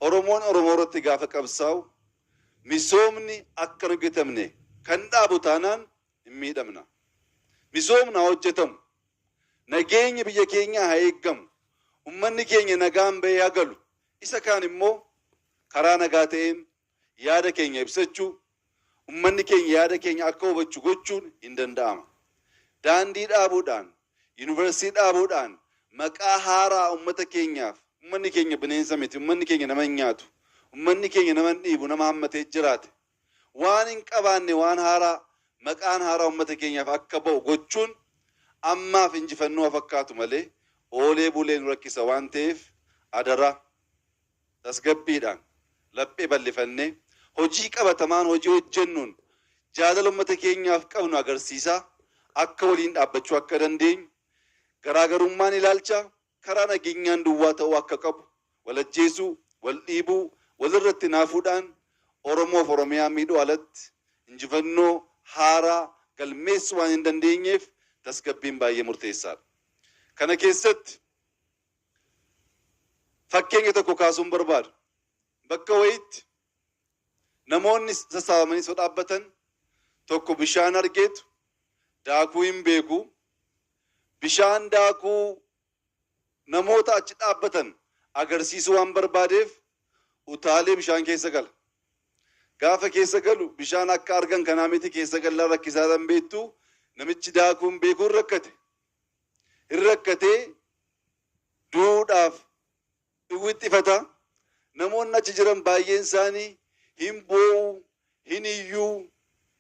Oromoon Oromoo irratti gaafa qabsaa'u misoomni akka hin hojjetamne kan dhaabu taanaan hin miidhamna. Misoomni haa hojjetamu, nageenyi biyya keenyaa haa eeggamu, ummanni keenya nagaan bahee haa galu, isa kaan immoo karaa nagaa ta'een yaada keenya ibsachuu, ummanni keenya yaada keenya akka hubachu gochuun hin danda'ama. Daandii dhaabuudhaan, Yuunivarsiitii dhaabuudhaan maqaa haaraa ummata keenyaaf, ummanni keenya bineensa miti, ummanni keenya nama hin nyaatu, ummanni keenya nama hin dhiibu, nama hammatee jiraate, waan hin qabaanne waan haaraa, maqaan haaraa ummata keenyaaf akka ba'u gochuun ammaaf injifannoo haa fakkaatu malee oolee bulee nu rakkisa waan ta'eef adaraa. tasgabbiidhaan, laphee bal'ifannee, hojii qabatamaan hojii hojjennuun jaalala ummata keenyaaf qabnu agarsiisaa akka waliin dhaabbachuu akka dandeenyu, garaagarummaan ilaalchaa karaa nageenyaan duwwaa ta'uu akka qabu, wal ajjeesuu, wal dhiibuu, walirratti hinaafuudhaan Oromoof Oromiyaa miidhuu alatti injifannoo haaraa galmeessuu waan hindandeenyeef tasgabbiin baay'ee murteessaadha. Kana keessatti. Fakkeenya tokko kaasuun barbaada. Bakka wayiitti namoonni sassaabamanii osoo dhaabbatan tokko bishaan argeetu daakuu hin beeku. Bishaan daakuu namoota achi dhaabbatan agarsiisuu waan barbaadeef utaalee bishaan keessa gala. Gaafa keessa galu bishaan akka argan kanaa miti keessa gallaan rakkisaadha hin beektu namichi daakuu hin beeku hin rakkate. Hin rakkatee du'uudhaaf in wixxifata, namoonni achi jiran baay'een isaanii hin boo'u, hin iyyu,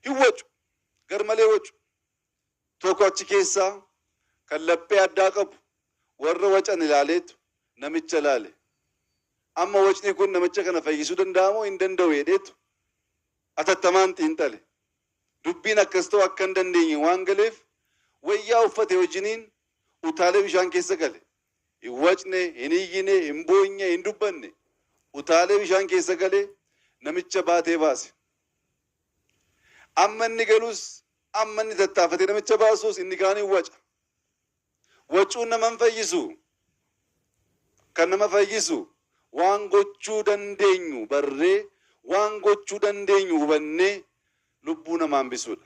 hin wacu, garmalee wacu. Tokko achi keessaa kan laphee addaa qabu warra wacan ilaaleetu namicha ilaale. Amma wacni kun namicha kana fayyisuu danda'amoo hin danda'u jedheetu atattamaan xiinxale. Dubbiin akkas ta'uu akka hin dandeenye waan galeef wayyaa uffate wajjiniin utaalee bishaan keessa gale. Hin wacne, hin iyyine, hin boonye, hin dubbanne. Utaalee bishaan keessa galee namicha baatee baase. Amma inni galus, amma inni tattaafate namicha baasus inni kaan hin waca. Wacuun nama hin fayyisu. Kan nama fayyisu waan gochuu dandeenyu barree, waan gochuu dandeenyu hubannee lubbuu namaa hambisuudha.